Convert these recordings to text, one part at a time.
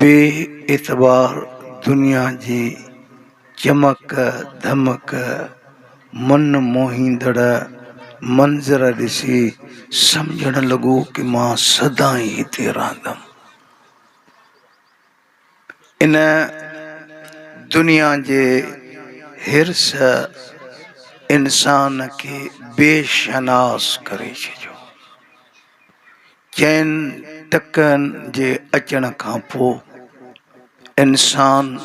بي اعتبار دنيا جي چمڪ ڌمڪ من موهيندڙ منظر ڏسي سمجهڻ لڳو ته مان سدائين هتي رهندم. ان دنيا جي حرص انسان کي بي شناس ڪري ڇڏيو. چئن ٽڪن جي اچڻ کان پوء انسان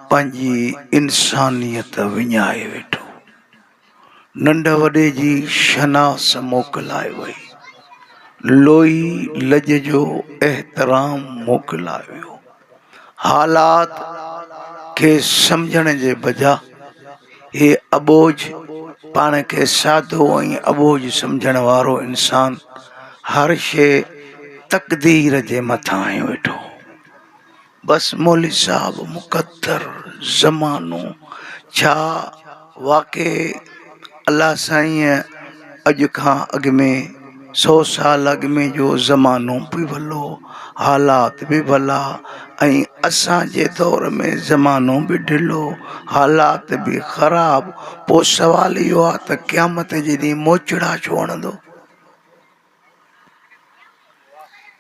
پنهنجي انسانيت وڃائي ويٺو. ننڍ وڏي جي شناس موڪلائي وئي. لوئي لڄ جو احترام موڪلائي ويو. حالات کي سمجهڻ جي بجا هي اٻوجهه پاڻ کي سادو ۽ اٻوجهه سمجهڻ وارو انسان هر شيء تقدير جي مٿان هنيو ويٺو هو. بس مولوي صاحب مقدر، زمانو، ڇا؟ واقعي الله سائينء اڄ کان اڳ ۾ سو سال اڳ ۾ جو زمانو به ڀلو حالات به ڀلا ۽ اسان جي دور ۾ زمانو به ڍلو حالات به خراب پوء سوال اهو آهي ته قيامت جي ڏينهن موچڙا ڇو هڻندو؟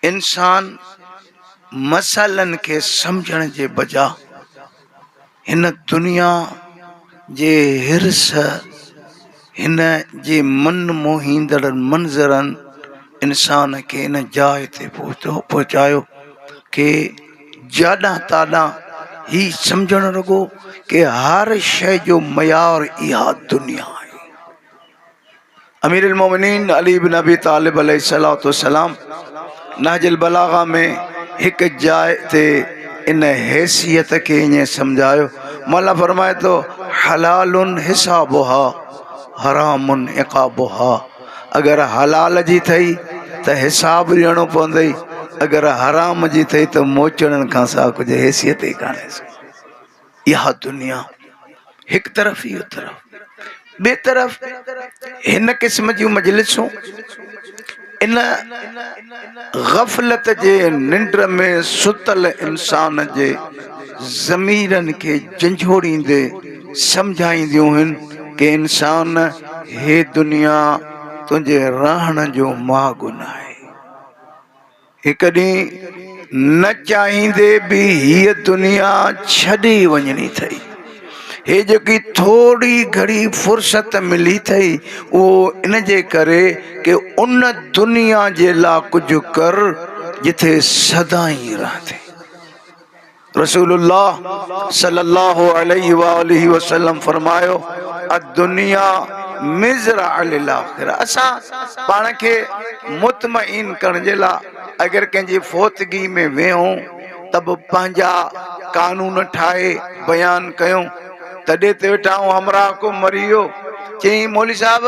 انسان مسئلن کي سمجهڻ جي بجا هن دنيا جي حرص هن جي من موهيندڙ منظرن انسان کي ان جاء تي پهتو پهچايو ڪي جاڏان تاڏان هي سمجهڻ لڳو ڪي هر شيء جو معيار اها دنيا آهي امير المومنين علي بن ابي طالب عليه الصلوة والسلام نهج البلاغه ۾ هڪ جاء تي ان حيثيت کي ائين سمجهايو مولا فرمائي ٿو حلال حسابها حرام عقابها اگر حلال جي ٿئي ته حساب ڏيڻو پوندئي اگر حرام جي ٿئي ته موچڙن کان سواء ڪجهه حيثيت ئي ڪانهيس اها دنيا هڪ طرف هي طرف ٻي طرف هن قسم جون مجلسون ان غفلت جي ننڊ ۾ ستل انسان جي ضميرن کي جنجهوڙيندي سمجهائينديون هن ڪي انسان هي دنيا تنهنجي رهڻ جو ماڳ ناهي. هڪ ڏينهن نه چاهيندي به هيء دنيا ڇڏي وڃڻي اٿئي. هيء جيڪي ٿوري گهڙي فرصت ملي اٿئي، اهو ان جي ڪري ڪي ان دنيا جي لا ڪجهه ڪر، جتي سدائين رهندين. رسول الله صلي الله عليه واٰله وسلم فرمايو، الدنيا مزرعه للاخره اسان پاڻ کي مطمئن ڪرڻ جي لاء اگر ڪنهن جي فوتگي ۾ ويهون ته به پنهنجا قانون ٺاهي بيان ڪيون تڏي تي ويٺا آهون همراهه ڪو مري ويو چيائين مولوي صاحب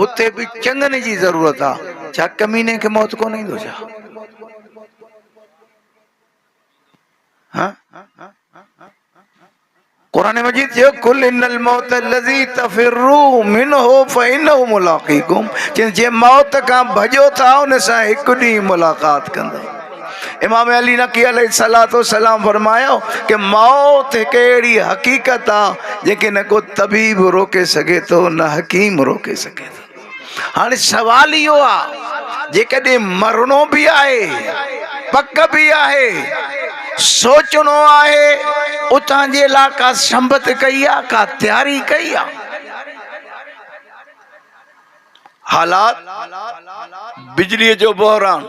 هتي به چڱن جي ضرورت آهي ڇا ڪميني کي موت ڪونه ايندو ڇا؟ قرآن مجيد چيو قل ان الموت الذي تفروا منه فانه ملاقيكم چين جي موت کان ڀڄو ٿا ان سان هڪ ڏينهن ملاقات ڪندو امام علي نقي عليه الصلوۃ والسلام فرمايو کہ موت هڪ اهڙي حقيقت آ جيڪي نه ڪو طبيب روڪي سگهي ٿو نه حڪيم روڪي سگهي ٿو هاڻي سوال اهو آ جيڪڏهن مرڻو به آهي پڪ به آهي سوچڻو آهي اتان جي لا ڪا سنبت ڪئي آ ڪا تياري ڪئي آ حالات بجلي جو بحران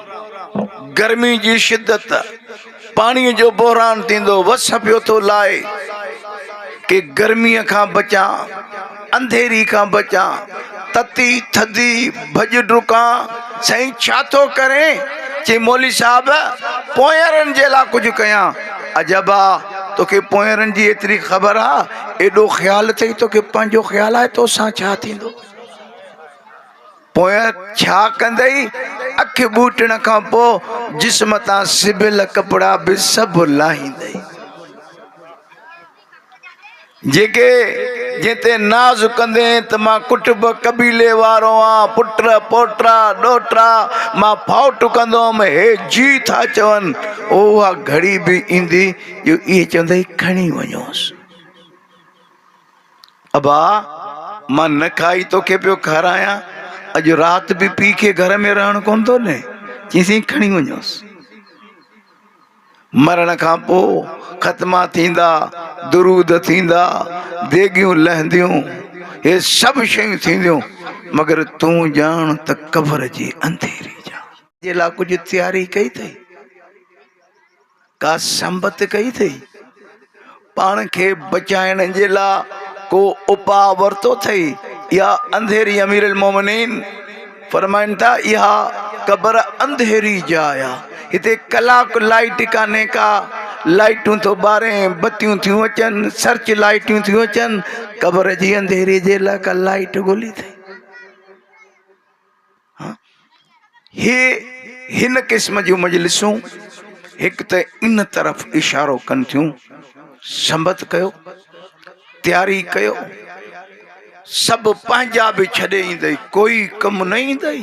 گرمي جي شدت پاڻيء جو بحران ٿيندو وس پيو ٿو لائي ڪي گرميء کان بچان انڌيري کان بچان تتي ٿڌي ڀڄ ڊڪان سائين ڇا ٿو ڪرين چي مولي صاحب پونئرن جي لا ڪجهه ڪيان عجب آ توکي پونئرن جي ايتري خبر آ ايڏو خيال اٿئي توکي پنهنجو خيال آهي توسان ڇا ٿيندو. پويان ڇا ڪندئي؟ اک ٻوٽڻ کان پوء جسم تان سبيل ڪپڙا به سڀ لاهيندئي. جيڪي جنهن تي ناز ڪندين ته مان ڪٽب قبيلي وارو آن، پٽ، پوٽا، ڏوهٽا، مان ڦاٽ ڪندوم، هي جي ٿا چون، اها گهڙي به ايندي جو اهي چوندئي کڻي وڃوس. ابا! مان نه کائي توکي پيو کارايان، اڄ رات به پيء کي گهر ۾ رهڻ ڪونه ٿو ڏئين. چيسين کڻي وڃوس. مرڻ کان پوء ختما ٿيندا، درود ٿيندا، ديڳيون لهنديون، هي سڀ شيون ٿينديون، مگر تون ڄاڻ ته قبر جي انڌيري جا. جي لاء ڪجهه تياري ڪئي اٿئي؟ ڪا سنبت ڪئي اٿئي؟ پاڻ کي بچائڻ جي لاء ڪو اپاء ورتو اٿئي يا انڌيري امير المومنين فرمائن ٿا اها قبر انڌيري جاء آ هتي ڪلاڪ لائٽ ڪانهي ڪا لائٽون ٿو ٻارين بتيون ٿيون اچن سرچ لائٽون ٿيون اچن قبر جي انڌيري جي لاء ڪا لائٽ ڳولي اٿئي هي هن قسم جون مجلسون هڪ ته ان طرف اشارو ڪن ٿيون سنبت ڪيو تياري ڪيو سڀ پنهنجا به ڇڏي ايندئي ڪوئي ڪم نه ايندئي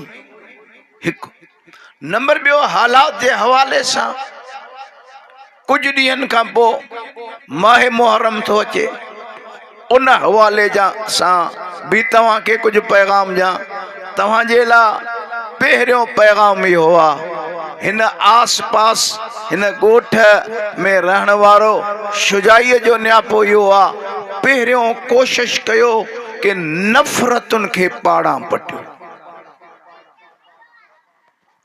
هڪ نمبر ٻيو حالات جي حوالي سان ڪجهه ڏينهن کان پوء ماهه محرم ٿو اچي، ان حوالي جا سان به توهان کي ڪجهه پيغام ڏيان، توهان جي لا پهريون پيغام اهو آ، هن آس پاس هن ڳوٺ ۾ رهڻ وارو شجاعيء جو نياپو اهو آ، پهريون ڪوشش ڪيو ڪي نفرتن کي پاڙان پٽيو.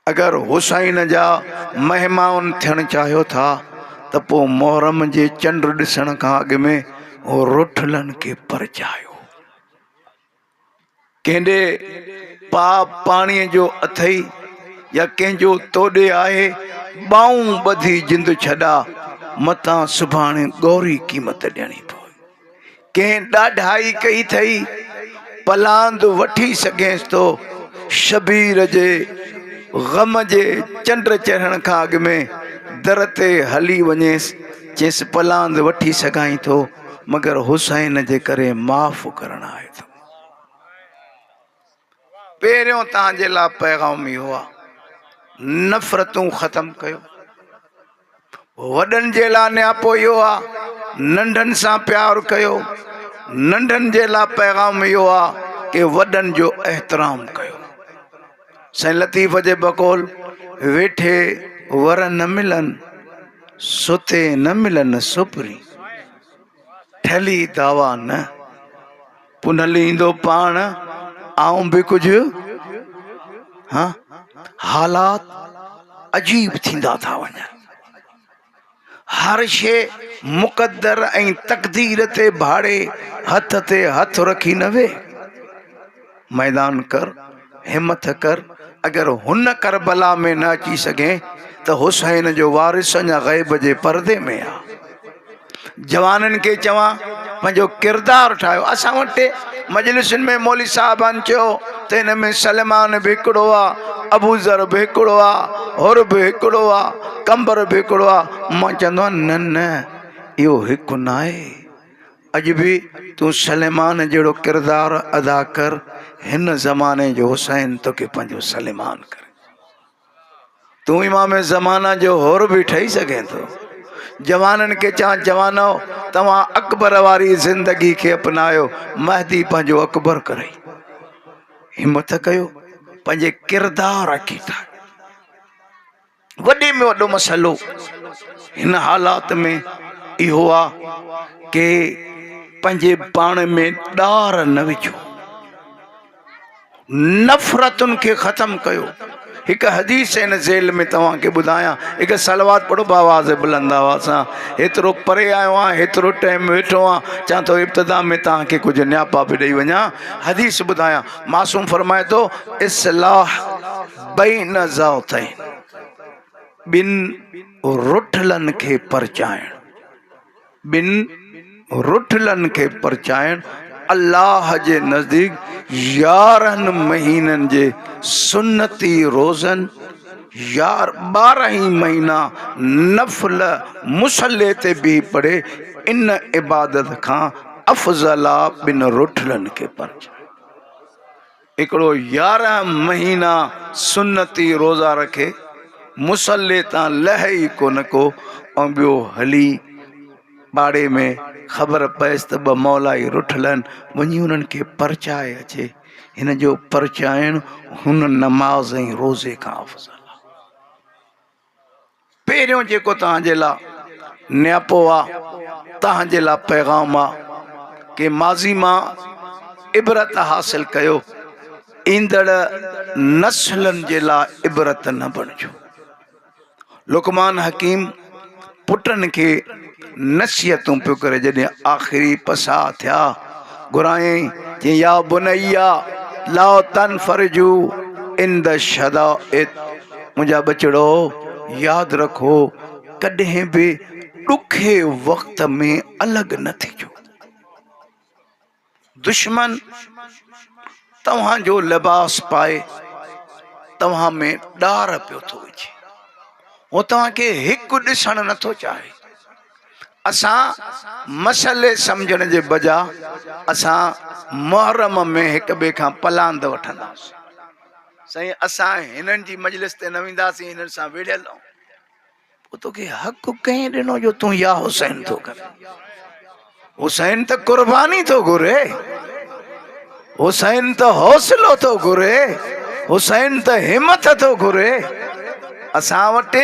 اگر حسين جا مهمان ٿيڻ چاهيو ٿا ته پوء محرم جي چنڊ ڏسڻ کان اڳ ۾ روٺلن کي پرچايو. ڪنهن ڏي پاء پاڻيء جو اٿئي يا ڪنهن جو تو ڏي آهي، ٻانهون ٻڌي جند ڇڏاء، متان سڀاڻي ڳوري قيمت ڏيڻي پوي. ڪنهن ڏاڍائي ڪئي ٿئي، پلاند وٺي سگهينس ٿو. شبير جي غم جي چنڊ چڙهڻ کان اڳ ۾ در تي هلي وڃيس چيس پلاند وٺي سگهائين ٿو مگر حسين جي ڪري معاف ڪرڻ آئي ٿو. پهريون توهان جي لاء پيغام اهو آهي نفرتون ختم ڪيو وڏن جي لاء نياپو اهو آهي ننڍن سان پيار ڪيو ننڍن جي لاء پيغام اهو آهي ڪي وڏن جو احترام ڪيو سائين لطيف جي بقول ويٺي ور نه ملن ستي نه ملن سپري ٺلي دعوا نه پنهل ايندو پاڻ آئون به ڪجهه ها حالات عجيب ٿيندا ٿا وڃن هر شي مقدر ۽ تقدير تي ڀاڙي هٿ تي هٿ رکي نه وي ميدان ڪر همٿ ڪر، اگر هن ڪربلا ۾ نه اچي سگهين ته حسين جو وارث اڃا غيب جي پردي ۾ آ. جوانن کي چوان پنهنجو ڪردار ٺاهيو. اسان وٽ مجلسن ۾ مولوي صاحبان چيو ته هن ۾ سليمان به هڪڙو آ، ابوذر به هڪڙو آ، حر به هڪڙو آ، قنبر به هڪڙو آ. مان چوندو آهيان نه نه اهو هڪ ناهي. اڄ به تون سليمان جهڙو ڪردار ادا ڪر هن زماني جو حسين توکي پنهنجو سليمان ڪري تون امام زمانه جو هور به ٺهي سگهين ٿو جوانن کي چان جوانو توهان اڪبر واري زندگي کي اپنايو مهدي پنهنجو اڪبر ڪري همت ڪيو پنهنجي ڪردار کي ٺاهي وڏي ۾ وڏو مسئلو هن حالات ۾ اهو آ ڪي پنهنجي پاڻ ۾ ڏار نه وجهو نفرتن کي ختم ڪيو هڪ حديث هن ذيل ۾ توهان کي ٻڌايان هڪ صلوات پڙهو باواز بلند آواز سان هيترو پري آيو آهيان هيترو ٽائم ويٺو آهيان چاهن ٿو ابتدا ۾ توهان کي ڪجهه نياپا به ڏيئي وڃان حديث ٻڌايان معصوم فرمائي ٿو اصلاح بين ذاتين، ٻن رٺلن کي پرچائڻ، ٻن رٺلن کي پرچائڻ الله جي نزديڪ يارهن مهينن جي سنتي روزن يا ٻارهن ئي مهينا نفل مصلي تي بيهي پڙهي ان عبادت کان افضل آ ٻن رٺلن کي پرچائڻ. هڪڙو يارهن مهينا سنتي روزا رکي مصلي تان لهي ئي ڪونه ڪو ۽ ٻيو هلي پاڙي ۾ خبر پيس ته ٻه مولائي رٺل آهن وڃي انهن کي پرچائي اچي هن جو پرچائڻ هن نماز ۽ روزي کان افضل آهي پهريون جيڪو توهان جي لا نياپو آ توهان جي لا پيغام آ ڪي ماضي مان عبرت حاصل ڪيو ايندڙ نسلن جي لا عبرت نه بڻجو لقمان حڪيم پٽن کي نصيحتون پيو ڪري جڏهن آخري پساء ٿيا گهرايائين چيائين يا بنيا لا تنفرجو عند الشدائد منهنجا ٻچڙو ياد رکو ڪڏهن به ڏکي وقت ۾ الڳ نه ٿيجو دشمن توهان جو لباس پائي توهان ۾ ڏار پيو ٿو وجهي، هو توهان کي هڪ ڏسڻ نٿو چاهي. اسان مسئلي سمجهڻ جي بجا اسان محرم ۾ هڪ ٻئي کان پلاند وٺنداسين. سائين اسان هنن جي مجلس تي نه وينداسين هنن سان وڙهيل آهون. پوء توکي حق ڪنهن ڏنو جو تون يا حسين ٿو ڪرين. حسين ته قرباني ٿو گهري، حسين ته حوصلو ٿو گهري، حسين ته همٿ ٿو گهري. اسان وٽ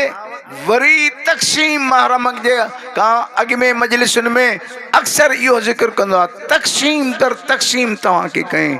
وري تقسيم محرم جي کان اڳ ۾ مجلسن ۾ اڪثر اهو ذڪر ڪندو آهي تقسيم در تقسيم توهان کي ڪئين.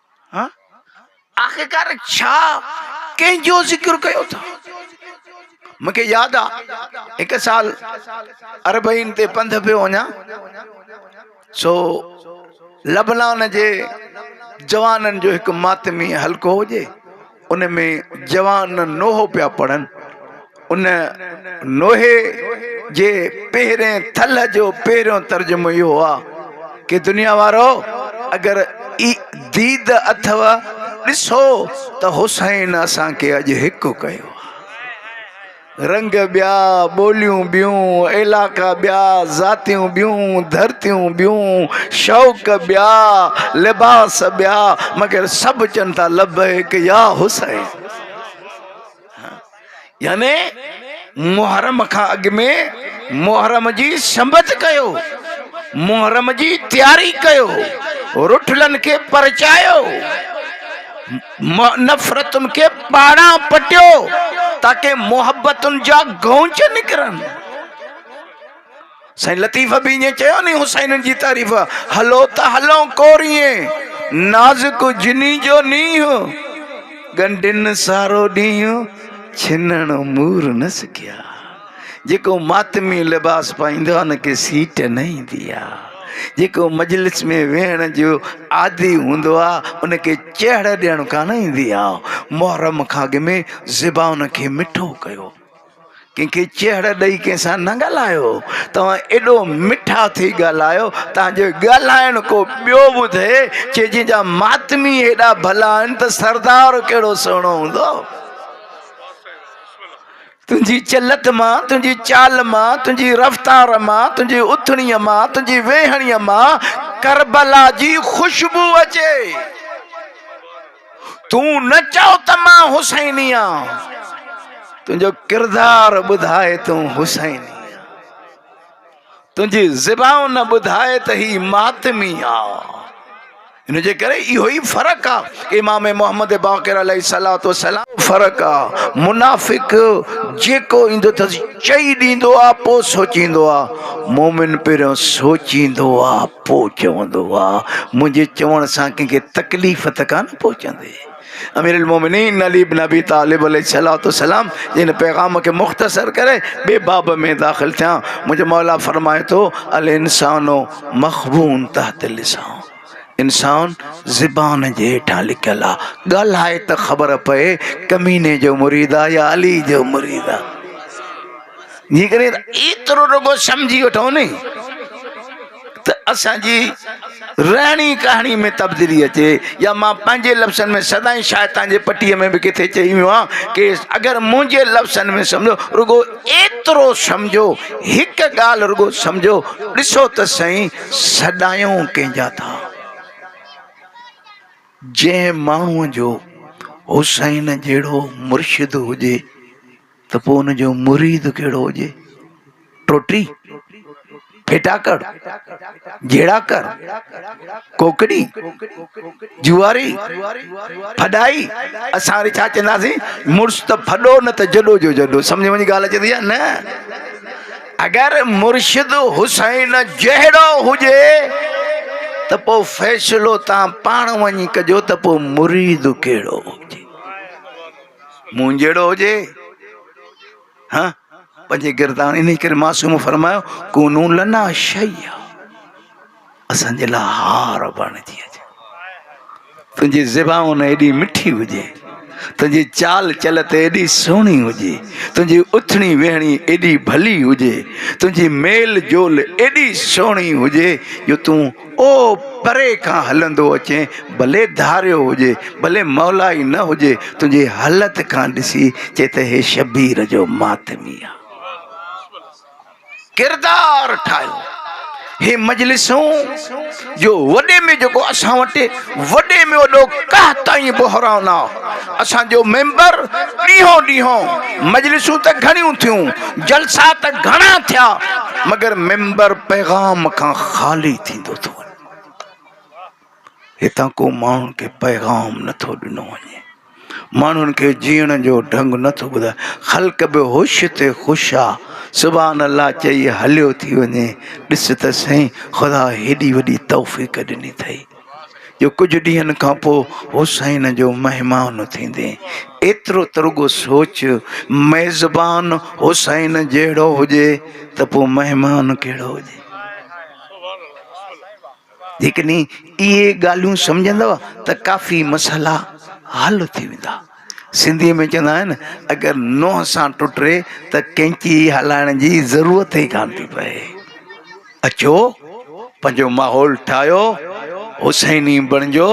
آخرڪار ڇا ڪنهن جو ذڪر ڪيو ٿا مون کي ياد آ هڪ سال اربعين تي پنڌ پيو وڃا سو لبنان جي جوانن جو هڪ ماتمي حلقو هجي ان ۾ جوان نوحو پيا پڙهن. ان نوحي جي پهرين ٿلهه جو پهريون ترجمو اهو آ ڪي دنيا وارؤ! اگر اي ديد اٿئو، ڏسو ته حسين اسان کي اڄ هڪ ڪيو آ. رنگ ٻيا، ٻوليون ٻيون، علائقا ٻيا، ذاتيون ٻيون، ڌرتيون ٻيون، شوق ٻيا، لباس ٻيا، مگر سڀ چون ٿا لبيڪ يا حسين. يعني محرم کان اڳ ۾ محرم جي سنبت ڪيو، محرم جي تياري ڪيو، رٺلن کي پرچايو. نفرتن کي پاڙان پٽيو تاڪه محبتن جا گونچ نڪرن سائين لطيف به ائين چيو ني حسين جي تعريف هلو ته هلون ڪوريين نازڪ جني جو نينهن ڳنڍين سارو ڏينهن ڇنڻ مور نه سکيا جيڪو ماتمي لباس پائيندو آ ان کي سيٽ نه ايندي آ جيڪو مجلس ۾ ويهڻ جو عادي هوندو آ ان کي چهڙ ڏيڻ ڪانه ايندي آ محرم کان اڳ ۾ زبان کي مٺو ڪيو ڪنهن کي چهڙ ڏئي ڪنهن سان نه ڳالهايو توهان ايڏو مٺا ٿي ڳالهايو تان جو ڳالهائڻ ڪو ٻيو ٻڌي چي جن جا ماتمي هيڏا ڀلا آهن ته سردار ڪهڙو سهڻو هوندو تنهنجي چلٽ مان، تنهنجي چال مان، تنهنجي رفتار مان، تنهنجي اٿڻيء مان، تنهنجي ويهڻيء مان ڪربلا جي خوشبو اچي. تون نه چئو ته مان حسيني آهيان، تنهنجو ڪردار ٻڌائي تون حسيني آهين. تنهنجي زبان نه ٻڌائي ته هي ماتمي آ. ان جي ڪري اهو ئي فرق آ امام محمد باقر عليه الصلوة والسلام. فرق آ منافق جيڪو ايندو اٿس چئي ڏيندو آ پو سوچيندو آ مومن پهريون سوچيندو آ پو چوندو آ منهنجي چوڻ سان ڪنهن کي تڪليف ته ڪانه پهچندي. امير المومنين علي بن ابي طالب عليه الصلوة والسلام جن پيغام کي مختصر ڪري ٻئي باب ۾ داخل ٿيا منهنجو مولا فرمائي ٿو الانسان مخبون تحت اللسان انسان زبان جي هيٺان لڪيل آ ڳالهائي ته خبر پئي ڪميني جو مريد آ يا علي جو مريد آ جيڪڏهن ايترو رڳو سمجهي وٺو ني ته اسان جي رهڻي ڪهڻي ۾ تبديلي اچي يا مان پنهنجي لفظن ۾ سدائين شايد توهان جي پٽيء ۾ به ڪٿي چئي ويو هان ڪي اگر منهنجي لفظن ۾ سمجهو رڳو ايترو سمجهو هڪ ڳالهه رڳو سمجهو ڏسو ته سهين سڏايون ڪنهن جا ٿا جنهن ماڻهوء جو حسين جهڙو مرشد هجي ته پوء ان جو مريد ڪهڙو هجي؟ ٽوٽي، ڦيٽاڪڙ، جهيڙاڪر، ڪوڪڙي، جوئاري، ڦڏائي، اسان وري ڇا چونداسين مڙس ته ڦڏو نه ته جڏو جو جڏو سمجهه ۾ ڳالهه اچي ٿي يا نه؟ اگر مرشد حسين جهڙو هجي ته پوء فيصلو توهان پاڻ وڃي ڪجو ته پوء مريد ڪهڙو هجي؟ مون جهڙو هجي ها پنهنجي گردان انهي ڪري معصوم فرمايو ڪونو لنا شيئا اسان جي لا هار بڻجي اچ تنهنجي زبان ايڏي مٺي هجي تنهنجي چال چل ته ايڏي سهڻي هجي تنهنجي اٿڻي ويهڻي ايڏي ڀلي هجي تنهنجي ميل جول ايڏي سهڻي هجي جو تون او پري کان هلندو اچين، ڀلي ڌاريو هجي، ڀلي مولا ئي نه هجي، تنهنجي هلت کان ڏسي چئي ته هي شبير جو ماتمي آ. ڪردار ٺاهيو. هي مجلسون جو وڏي ۾ جيڪو اسان وٽ وڏي ۾ وڏو قحط ۽ بحران آ. اسان جو ميمبر ڏينهون ڏينهون مجلسون ته گهڻيون ٿيون، جلسا ته گهڻا ٿيا مگر ميمبر پيغام کان خالي ٿيندو ٿو وڃي. هتان ڪو ماڻهن کي پيغام نه ٿو ڏنو وڃي. ماڻهن کي جيئڻ جو ڍنگ نه ٿو ٻڌائي خلق به هوش تي خوش آ سبحان الله چئي هليو ٿي وڃي ڏس ته سائين خدا هيڏي وڏي توفيق ڏني اٿئي جو ڪجهه ڏينهن کان پوء حسين جو مهمان ٿيندي ايترو ته رڳو سوچ ميزبان حسين جهڙو هجي ته پوء مهمان ڪهڙو هجي جيڪڏهن اهي ڳالهيون سمجهندؤ ته ڪافي مسئلا حل ٿي ويندا سنڌي ۾ چوندا آهن اگر نوح سان ٽٽري ته ڪينچي هلائڻ جي ضرورت ئي ڪان ٿي پئي اچو پنهنجو ماحول ٺاهيو حسيني بڻجو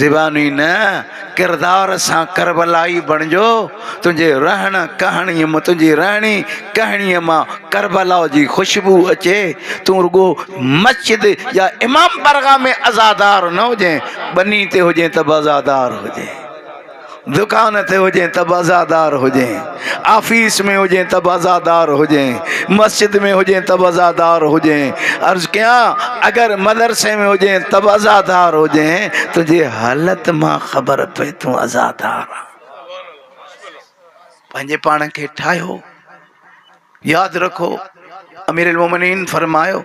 زباني نه ڪردار سان ڪربلائي بڻجو تنهنجي رهڻ ڪهڻي م تنهنجي رهڻي ڪهڻي مان ڪربلا جي خوشبو اچي تون رڳو مسجد يا امام برغا ۾ عزادار نه هجين ٻني تي هجين ته به عزادار هجين دڪان تي هجين ته به عزادار هجين آفيس ۾ هجين ته به عزادار هجين، مسجد ۾ هجين ته به عزادار هجين، عرض ڪيان اگر مدرسي ۾ هجين ته به عزادار هجين، تنهنجي حالت مان خبر پئي تون عزادار آن. پنهنجي پاڻ کي ٺاهيو. ياد رکو اميرالمومنين فرمايو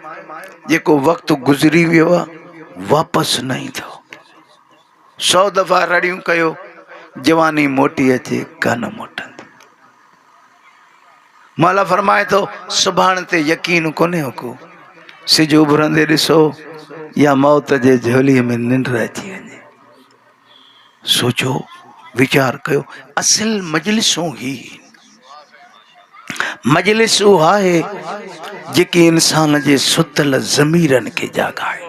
جيڪو وقت گذري ويو آهي واپس نه ايندو. سو دفعا رڙيون ڪيو جواني موٽي اچي ڪا نه موٽندي مولا فرمائي ٿو سڀاڻ تي يقين ڪونهي هڪو سج اڀرندي ڏسو يا موت جي جھولي ۾ ننڊ اچي وڃي سوچو ويچار ڪيو اصل مجلسون هي مجلس اها آهي جيڪي انسان جي ستل ضميرن کي جاڳائي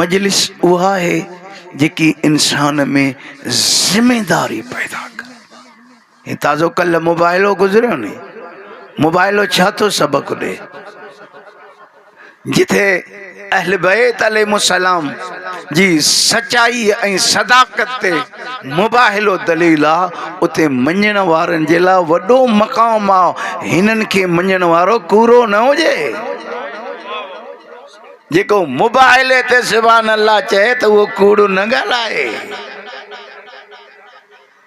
مجلس اها آهي جيڪي انسان ۾ ذميداري پيدا ڪري هي تازو ڪلهه موبائلو گذريو ني موبائلو ڇا ٿو سبق ڏي جتي اهل بيت عليهم السلام جي سچائي ۽ صداقت تي مباهلو دليل آ اتي مڃڻ وارن جي لا وڏو مقام آ هنن کي مڃڻ وارو ڪورو نه هجي جيڪو موبائل تي سبحان الله چئي ته اهو ڪوڙو نه ڳالهائي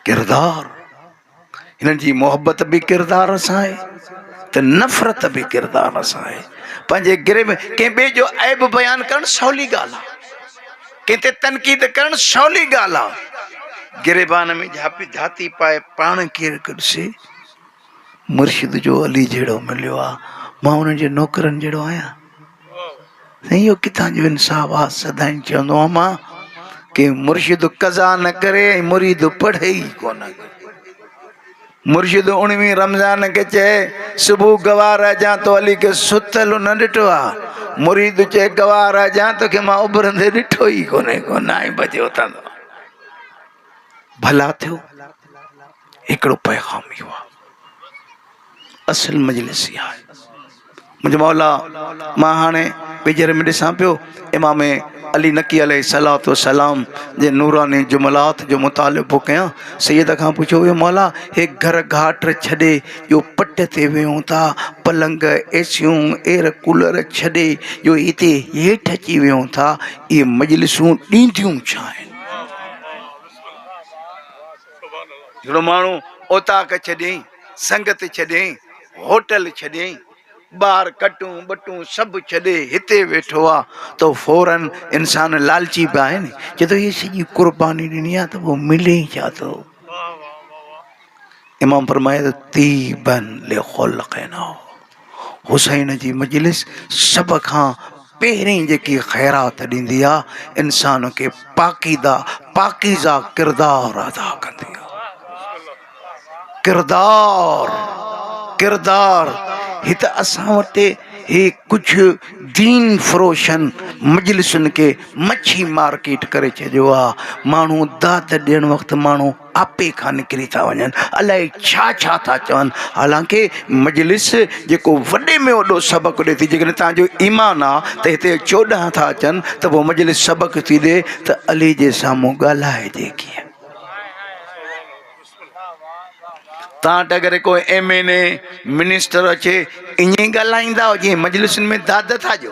ڪردار هنن جي محبت به ڪردار سان آهي ته نفرت به ڪردار سان آهي پنهنجي گري ۾ ڪنهن ٻئي جو عيب بيان ڪرڻ سولي ڳالهه آهي ڪنهن تي تنقيد ڪرڻ سولي ڳالهه آهي گريبان ۾ جهاپي جهاتي پائي پاڻ ڪير ڪڍسي مرشد جو علي جهڙو مليو آهي مان ان جي نوڪرن جهڙو آهيان سائين اهو ڪٿان جو انصاف آ سدائين چوندو هوم مان ڪي مرشد قضا نه ڪري ۽ مريد پڙهي ئي ڪونه مرشد اڻويهين رمضان کي چئي صبح گوار اجان تو علي کي ستل نه ڏٺو آ مريد چئي گوار اجان توکي مان اڀرندي ڏٺو ئي ڪونه ڪونه آئين بجي اٿندو ڀلا ٿيو هڪڙو پيغام اهو آ اصل مجلس اها آهي منهنجي مولا مان هاڻي ويجهڙ ۾ ڏسان پيو امام علي نقي عليه الصلوۃ والسلام جي نوراني جملات جو مطالعو پيو ڪيان سيد کان پڇيو ويو مولا هي گهر گهاٽ ڇڏي جو پٽ تي ويهون ٿا پلنگ ايسيون ايئر ڪولر ڇڏي جو هتي هيٺ اچي ويهون ٿا اهي مجلسون ڏينديون ڇا آهن جھڙو ماڻھو اوطاق ڇڏين، سنگت ڇڏين، ھوٽل ڇڏين، ٻار ڪٽون ٻٽون سڀ ڇڏي ھتي ويٺو آ تھ فورا انسان لالچي بھ آھي نھ چئي تھ ھيء سڄي قرباني ڏني آ تھ پوء ملي ئي ڇا ٿو؟ امام فرمائي ٿو طيبا لخلقنا. حسين جي مجلس سڀ کان پهرين جيڪي خيرات ڏيندي آ انسان کي پاڪيده پاڪيزه ڪردار ادا ڪندي آ ڪردار ڪردار هت اسان وٽ هي ڪجهه دين فروشن مجلسن کي مڇي مارڪيٽ ڪري ڇڏيو آ ماڻهو داد ڏيڻ وقت ماڻهو آپي کان نڪري ٿا وڃن الائي ڇا ڇا ٿا چون حالانڪ مجلس جيڪو وڏي ۾ وڏو سبق ڏي ٿي جيڪڏهن تنهنجو ايمان آ ته هتي چوڏهن ٿا اچن ته پوء مجلس سبق ٿي ڏي ته علي جي سامهون ڳالهائجي ڪيئن تان وٽ اگر ڪو ايم اين اي منسٽر اچي ائين ئي ڳالهائيندا جيئن مجلسن ۾ داد ٿا ڏيو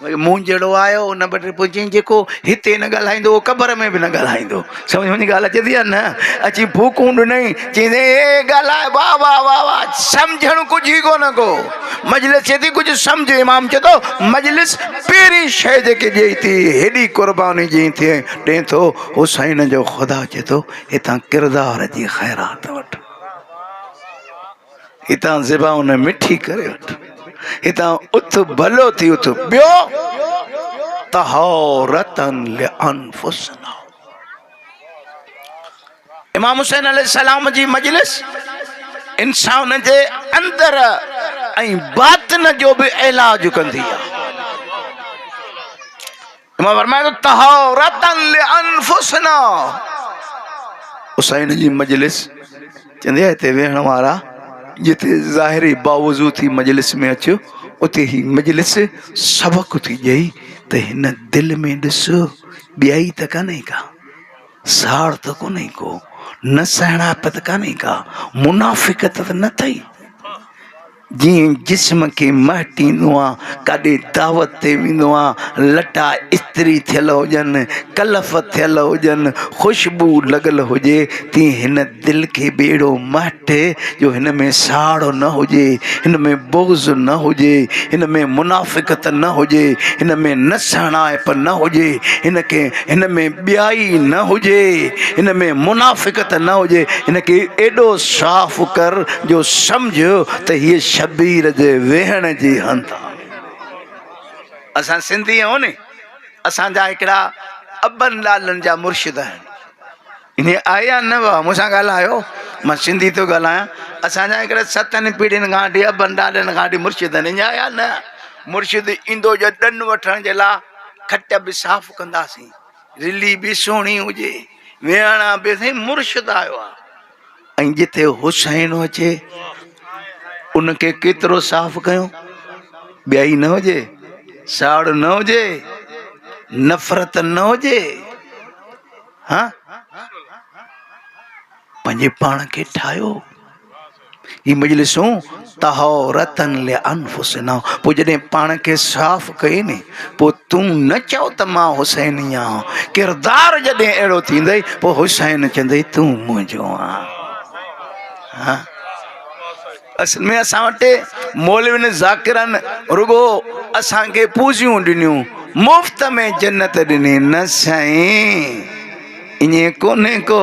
مون جهڙو آيو ان وٽ پوء چيائين جيڪو هتي نه ڳالهائيندو اهو قبر ۾ به نه ڳالهائيندو سمجهه منهنجي ڳالهه اچي ٿي يا نه اچي ڦوڪون ڏنائين چيائين اي ڳالهائي واهه واهه واهه واهه سمجهڻ ڪجهه ئي ڪونه ڪو مجلس چي ٿي ڪجهه سمجهه امام چي ٿو مجلس پهرين شيء جيڪي ڏئي ٿي هيڏي قرباني جي ٿي ڏئي ٿو حسين جو خدا چي ٿو هتان ڪردار جي خيرات وٺ هتان زبانء مٺي ڪري وٺ. هتان اٿ ڀلو ٿي اٿ. ٻيو طهارة لانفسنا. امام حسين عليه السلام جي مجلس انسان جي اندر ۽ باطن جو به علاج ڪندي آهي. امام فرمائي ٿو طهارة لانفسنا حسين جي مجلس چوندي آهي هتي ويهڻ وارا جتي ظاهري باوضو ٿي مجلس ۾ اچ اتي هي مجلس سبق ٿي ڏئي ته هن دل ۾ ڏس ٻيائي ته ڪانهي ڪا ساڙ ته ڪونهي ڪو نه سهڻائپ ته ڪانهي ڪا منافقت ته نه اٿئي جيئن جسم کي مهٽيندو آ، ڪاڏي دعوت تي ويندو آ، لٽا استري ٿيل هجن، ڪلف ٿيل هجن، خوشبو لڳل هجي، تيئن هن دل کي به اهڙو مهٽ جو هن ۾ ساڙ نه هجي، هن ۾ بغض نه هجي، هن ۾ منافقت نه هجي، هن ۾ نسهڻائپ نه هجي، هن کي هن ۾ ٻيائي نه هجي، هن ۾ منافقت نه هجي، هن کي ايڏو صاف ڪر جو سمجهه ته هيء شبير جي ويهڻ جي هنڌ آ. اسان سنڌي آهيون ني اسان جا هڪڙا ابن لالن جا مرشد آهن انهي آيا نه واه مون سان ڳالهايو مان سنڌي ٿو ڳالهايان اسان جا هڪڙا ستن پيڙهين کان وٺي ابن لالن کان وٺي مرشد آهن انهي آيا نه مرشد ايندو جو ڏن وٺڻ جي لا کٽ به صاف ڪنداسين رلي به سهڻي هجي ويهڻ به سائين مرشد آيو آ ۽ جتي حسين اچي ان کي ڪيترو صاف ڪيو ٻيائي نه هجي ساڙ نه هجي نفرت نه هجي ها پنهنجي پاڻ کي ٺاهيو هي مجلسون طهورة لانفسنا پوء جڏهن پاڻ کي صاف ڪئي ني پوء تون نه چئو ته مان حسيني آهيان ڪردار جڏهن اهڙو ٿيندئي پوء حسين چوندئي تون منهنجو آهين ها اصل ۾ اسان وٽ مولوين ذاڪرن رڳو اسان کي پوزيون ڏنيون مفت ۾ جنت ڏني نه سائين ائين ڪونهي ڪو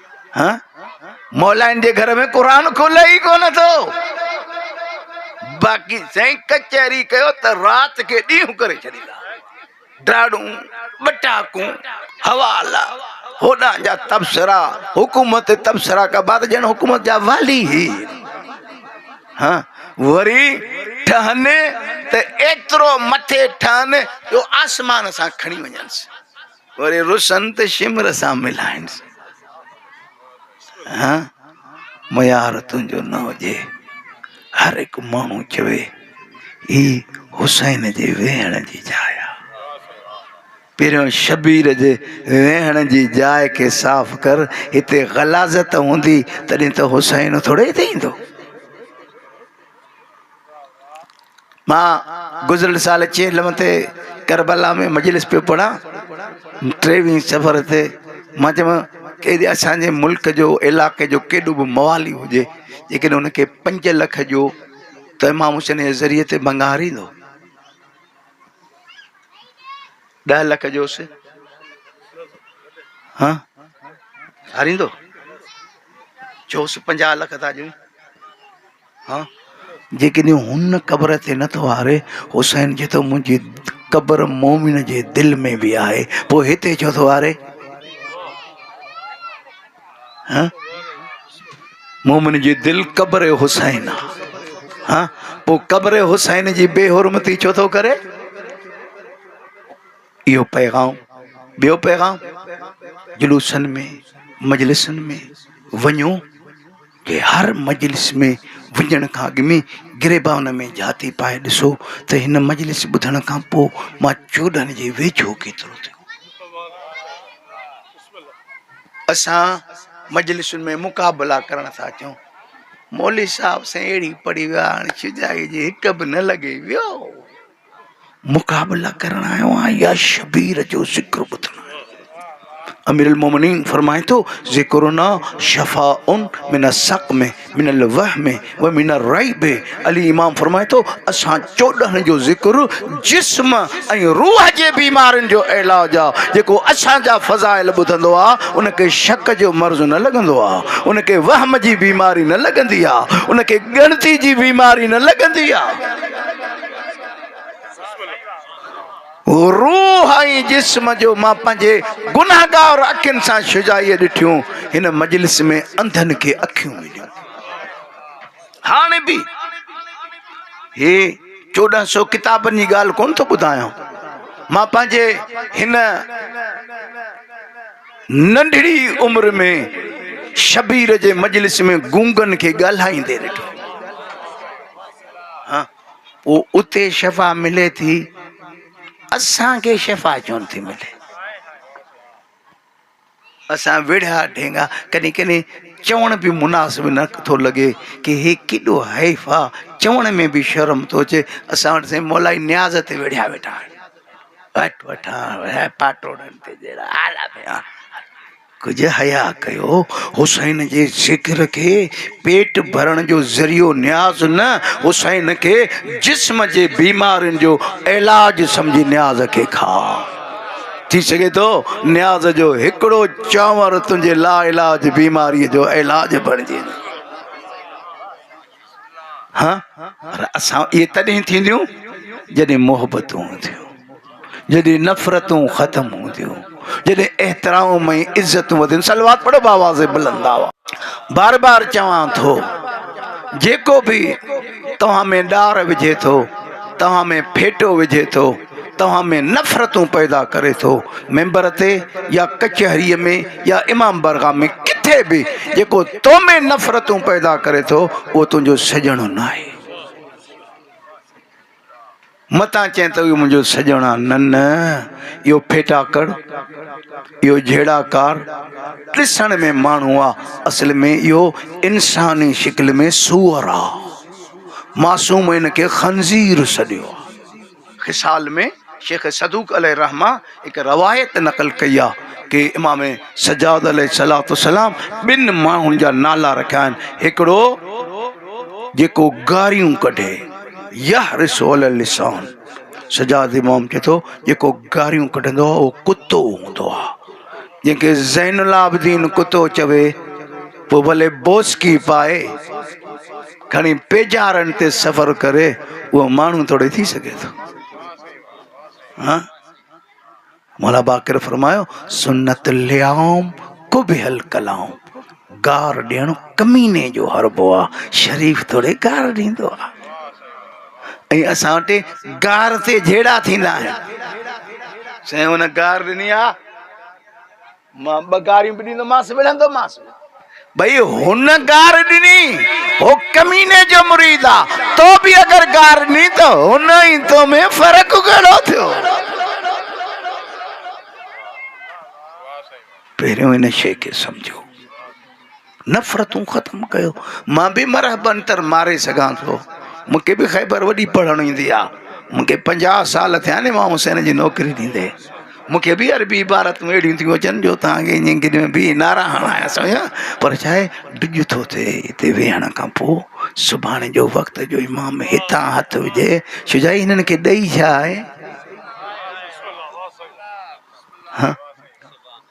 مولائن جي گهر ۾ قرآن کولي ئي ڪونه ٿو. باقي سائين ڪچهري ڪيو ته رات کي ڏينهن ڪري ڇڏيندا. ڊاڙون، ٻٽاڪون، حوالا، هوڏان جا تبصرا، حڪومت تي تبصرا ڪبا ته ڄڻ حڪومت جا والي ئي هن. وري ٺهن ته ايترو مٿي ٺهن جو آسمان سان کڻي وڃنس. وري رسن ته شمر سان ملائينس. ها ميار تنهنجو نه هجي. هر هڪ ماڻهو چوي هي حسين جي ويهڻ جي جاء آ. پهريون شبير جي ويهڻ جي جاء کي صاف ڪر. هتي غلاظت هوندي تڏهن ته حسين ٿورڙي هتي ايندو. مان گذريل سال چيلم تي ڪربلا ۾ مجلس پيو پڙهان ٽيوي سفر تي مان چيم ڪيڏي اسانجي ملڪ جو علائقي جو ڪيڏو به موالي هجي ليڪن ان کي پنج لک جو ته امام حسين جي ذريعي تي ڀنگار ايندو ڏهه لک جوس ها هاريندو چوس پنجاهه لک ٿا ڏيون ها جيڪڏهن هن قبر تي نه ٿو هاري حسين چي ٿو منهنجي قبر مومن جي دل ۾ به آهي پوء هتي ڇو ٿو هاري ها مومن جي دل قبر حسين آ ها پوء قبر حسين جي بي حرمتي ڇو ٿو ڪري اهو پيغام ٻيو پيغام جلوسن ۾ مجلسن ۾ وڃو کي هر مجلس ۾ وڃڻ کان اڳ ۾ گريبان ۾ جهاتي پائي ڏسو ته هن مجلس ٻڌڻ کان پوء مان چوڏهن جي ويجهو ڪيترو ٿيو. اسان مجلسن ۾ مقابلا ڪرڻ ٿا اچون. مولوي صاحب سائين اهڙي پڙهي ويا هاڻي شجاعي جي هڪ به نه لڳي ويو. مقابلا ڪرڻ آيو آهيان يا شبير جو ذڪر ٻڌڻ آيو آهيان امير المومنين فرمائي ٿو ذڪرنا شفاء من السقم من الوهم ومن الريب علي امام فرمائي ٿو اسان چوڏهن جو ذڪر جسم ۽ روح جي بيمارين جو علاج آ جيڪو اسان جا فضائل ٻڌندو آ ان کي شڪ جو مرض نه لڳندو آ ان کي وهم جي بيماري نه لڳندي آ ان کي ڳڻتي جي بيماري نه لڳندي آ روح ۽ جسم جو مان پنهنجي گناهگار اکين سان شجاعي ڏٺيون هن مجلس ۾ انڌن کي اکيون مليون هاڻ به هي چوڏهن سو ڪتابن جي ڳالهه ڪون ٿو ٻڌايان مان پنهنجي هن ننڍڙي عمر ۾ شبير جي مجلس ۾ گونگن کي ڳالهائيندي ڏٺو پوء اتي شفا ملي ٿي اسان کي شفا ڇو نٿي ملي اسان ويڙها ڍينگا ڪڏهن ڪڏهن چوڻ به مناسب نه ٿو لڳي ڪي هي ڪيڏو حيف آ چوڻ ۾ به شرم ٿو اچي اسان وٽ سائين مولائي نياز تي ويڙها ويٺا آهن وٽ وٺا پاٽوڙن تي جهڙا آلا ڀيا ڪجهه حياء ڪيو، حسين جي ذڪر کي پيٽ ڀرڻ جو ذريعو نياز نه، حسين کي جسم جي بيمارين جو علاج سمجهي نياز کي کاء. ٿي سگهي ٿو نياز جو هڪڙو چانور تنهنجي لاعلاج بيماريء جو علاج بڻجي. پر اسان اهي تڏهن ٿينديون جڏهن محبتون هونديون جڏهن نفرتون ختم هونديون جڏهن احترام ۽ عزتون وڌن سلوات پڙهو باواز بلند آواز بار بار چوان ٿو جيڪو به توهان ۾ ڏار وجهي ٿو توهان ۾ ڦيٽو وجهي ٿو توهان ۾ نفرتون پيدا ڪري ٿو ممبر تي يا ڪچهري ۾ يا امام برگاه ۾ ڪٿي به جيڪو تو ۾ نفرتون پيدا ڪري ٿو اهو تنهنجو سڄڻو ناهي متان چين ته اهو منهنجو سڄڻ آ نه نه اهو ڦيٽاڪڙ اهو جهيڙا ڪار ڏسڻ ۾ ماڻهو آ اصل ۾ اهو انساني شڪل ۾ سوئر آ معصوم هن کي خنزير سڏيو آ خصال ۾ شيخ صدوق عليه الرحمة هڪ روايت نقل ڪئي آهي ته امام سجاد عليه السلام ٻن ماڻهن جا نالا رکيا آهن هڪڙو جيڪو گاريون ڪڍي يحرس علي اللسان سجاد امام چئي ٿو جيڪو گاريون ڪڍندو آهي اهو ڪتو هوندو آهي جنهن کي زين العابدين ڪتو چوي پوء ڀلي بوسڪي پائي کڻي پيڄارن تي سفر ڪري اهو ماڻهو توڙي ٿي سگهي ٿو ها مولا باقر فرمايو سنت الليام قبح الڪلام گار ڏيڻ ڪميني جو حربو آهي شريف توڙي گار ڏيندو آهي ۽ اسان وٽ گار تي جهيڙا ٿيندا آهن سائين هن گار ڏني آهي مان ٻه گاريون به ڏيندومانس، وڙهندومانس به. ڀئي هن گار ڏني، هو ڪميني جو مريد آ، تو به اگر گار ڏني ته هن ۽ تو ۾ فرق ڪهڙو ٿيو؟ پهريون ان شيء کي سمجهو. نفرتون ختم ڪيو مان به مرحب عنتر ماري سگهان ٿو مون کي به خيبر وڏي پڙهڻ ايندي آ مون کي پنجاهه سال ٿيا آهن امام حسين جي نوڪري ڏيندي مون کي به عربي عبارتون اهڙيون ٿيون اچن جو توهان کي ائين گڏ ۾ بيهي نعرا هڻايا سويا پر ڇا آهي ڊڄ ٿو ٿئي هتي ويهڻ کان پوء سڀاڻي جو وقت جو امام هتان هٿ وجهي شجاعي هنن کي ڏئي ڇا آهي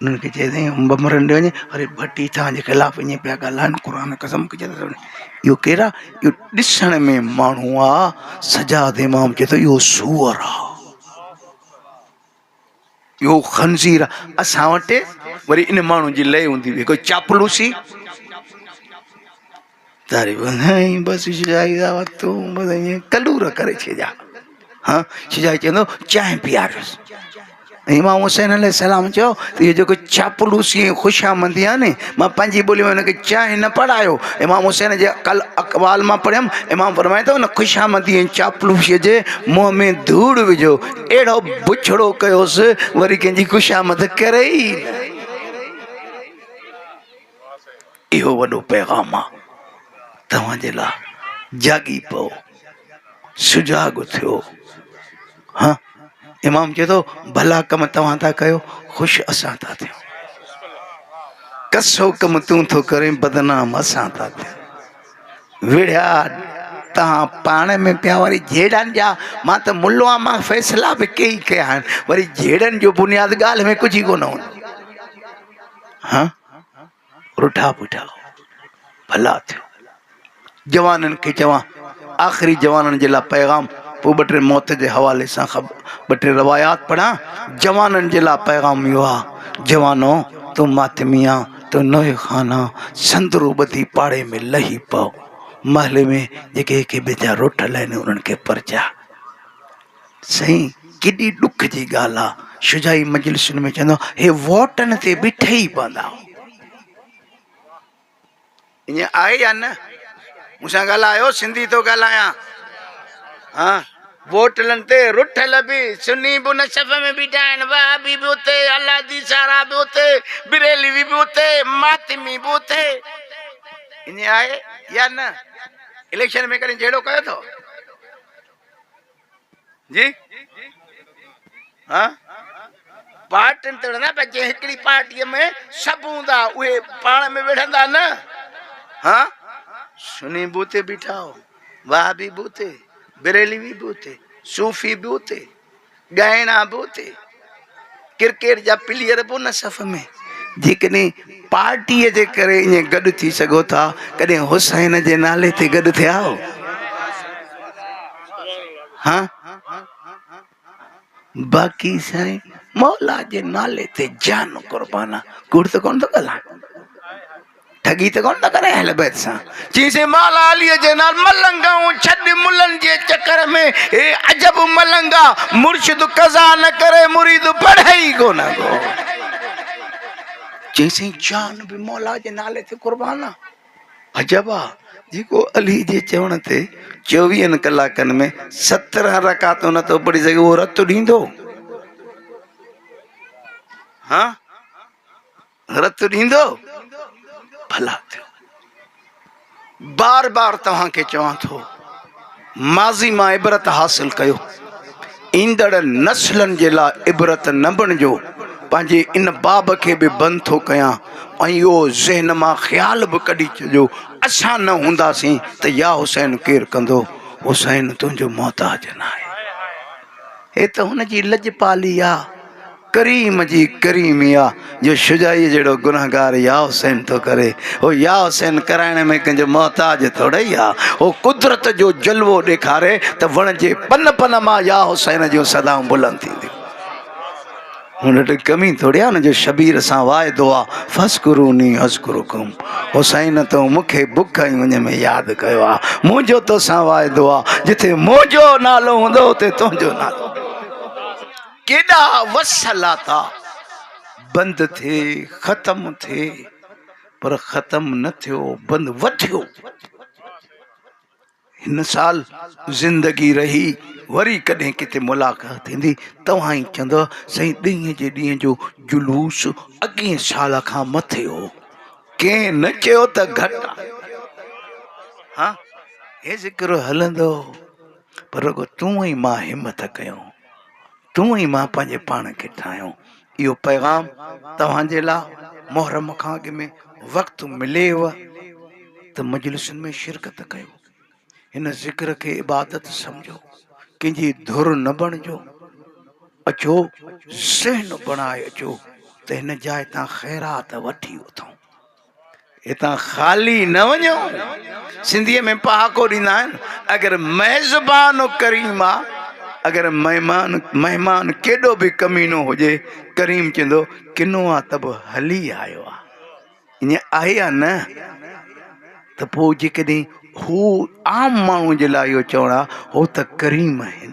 انهن کي چئي تائين انب مرن ڏي وڃي وري ڀٽي توهان جي خلاف اڃا پيا ڳالهائن قرآن قسم کي چيو اهو ڪير آهي اهو ڏسڻ ۾ ماڻهو آهي سجاد امام چي ٿو اهو سوئر آهي اهو خنزير آهي اسان وٽ وري ان ماڻهو جي لئي هوندي هئي هڪ چاپلوسي تاري ٻڌائين بس شجاعي دا وقت تون بس ائين ڪلور ڪري ڇڏيا ها شجاعي چوندو چانهه پياريس امام حسين عليه السلام چيو ته هي جيڪو چاپلوسي ۽ خوشامندي آهي ن مان پنهنجي ٻولي ۾ هنکي چانهه نه پڙهايو امام حسين جي اقل اقوال مان پڙهيم امام فرمائي ٿو هن خوشامندي ۽ چاپلوسيء جي منهن ۾ ڌوڙ وجهو اهڙو بڇڙو ڪيوس وري ڪنهن جي خوشامد ڪري ئي نه اهو وڏو پيغام آ توهان جي لا جاڳي پئو سجاڳ ٿيو ها امام چئي ٿو ڀلا ڪم توهان ٿا ڪيو خوش اسان ٿا ٿيون ڪسو ڪم تون ٿو ڪرين بدنام اسان ٿا ٿيون وڙيا تان پاڻ ۾ پيا وري جيڙن جا ما ته ملوا ما فيصلا به ڪي ڪيا وري جيڙن جو بنياد گال ۾ ڪجي ڪونه هون ها رٺا پٺا ڀلا ٿيو جوانن کي چوان آخري جوانن جي لاء پيغام پوء ٻه ٽي موت جي حوالي سان ٻه ٽي روايات پڙهان جوانن جي لاء پيغام اهو آ جوانو تو ماتمي آ تو نوحي خان آ سندرو ٻڌي پاڙي ۾ لهي پئو محلي ۾ جيڪي هڪ ٻئي جا رٺ لهن انهن کي پرچاء سائين ڪيڏي ڏک جي ڳالهه آ شجاعي مجلسن ۾ چوندا هي ووٽن تي بيٺي ئي پوندا ايئن آهي يا نه مون سان ڳالهايو سنڌي ٿو ڳالهايان ها ووٽلن تي رٺل به سني به ان صف ۾ بيٺا آهن وهابي به اتي الادي سارا به اتي بريلوي به اتي ماتمي به اتي ايئن آهي يا نه اليڪشن ۾ ڪڏهن جهيڙو ڪيو اٿو جي ها پارٽين تڙ نه پر جي هڪڙي پارٽي ۾ سڀ هوندا اهي پاڻ ۾ وڙهندا نه ها سني به اتي بيٺا هو وهابي به اتي بريلوي به اتي صوفي به اتي ڳائڻا به اتي ڪرڪيٽ جا پليئر به ان صف ۾ جيڪڏهن پارٽيء جي ڪري ائين گڏ ٿي سگهو ٿا ڪڏهن حسين جي نالي تي گڏ ٿيا آهو ها باقي سائين مولا جي نالي تي جان قربان ڪوڙ ته ڪون ٿو ڳالهايان ٺڳي ته ڪونه ٿا ڪرين اهل بيت سان چيسين مالا علي جي نال ملنگائون ڇڏ ملن جي چڪر ۾ اي عجب ملنگا مرشد قضا نه ڪري مريد پڙهي ئي ڪونه ڪو چيسين جان به مولا جي نالي تي قربان آ عجب آ جيڪو علي جي چوڻ تي 24 ڪلاڪن ۾ 17 رڪعتون نه ٿو پڙهي سگهي اهو رت ڏيندو ها رت ڏيندو ڀلا ٿيو. بار بار توهان کي چوان ٿو ماضي مان عبرت حاصل ڪيو ايندڙ نسلن جي لاء عبرت نه بڻجو پنهنجي ان باب کي به بند ٿو ڪيان ۽ اهو ذهن مان خيال به ڪڍي ڇڏيو اسان نه هونداسين ته يا حسين ڪير ڪندو حسين تنهنجو محتاج ناهي هي ته هن جي لڄپالي آ ڪريم جي ڪريمي آ جو شجاعيء جهڙو گنهگار يا حسين ٿو ڪري هو يا حسين ڪرائڻ ۾ ڪنهن جو محتاج ٿورئي آ هو قدرت جو جلوو ڏيکاري ته وڻ جي پن پن مان يا حسين جون صدائون بلند ٿينديون هن وٽ ڪمي ٿوري آ هن جو شبير سان واعدو آ فذڪروني اذڪرڪم حسين تو مون کي بک ۽ اڃ ۾ ياد ڪيو آ منهنجو توسان واعدو آ جتي منهنجو نالو هوندو اتي تنهنجو نالو ڪيڏا وسهلاتا بند ٿي ختم ٿي پر ختم نه ٿيو بند وڌيو هن سال زندگي رهي وري ڪڏهن ڪٿي ملاقات ٿيندي توهان ئي چوندو سائين ڏينهن جي ڏينهن جو جلوس اڳين سال کان مٿي هو ڪنهن نه چيو ته گهٽ ها هي ذڪر هلندو پر رڳو تون مان همت ڪيو تون ئي مان پنهنجي پاڻ کي ٺاهيو. اهو پيغام توهان جي لا محرم کان اڳ ۾ وقت مليو ته مجلسن ۾ شرڪت ڪيو. هن ذڪر کي عبادت سمجهو. ڪنهن جي ڌر نه بڻجو. اچو ذهن بڻائي اچو ته هن جاء تان خيرات وٺي اٿئون. هتان خالي نه وڃو سنڌي ۾ پهاڪو ڏيندا آهن اگر ميزبان ڪريم آ اگر مهمان مهمان ڪيڏو به ڪمينو هجي ڪريم چوندو ڪنو آ ته به هلي آيو آ ائين آهي يا نه ته پوء جيڪڏهن هو عام ماڻهو جي لاء اهو چوڻ آ هو ته ڪريم آهن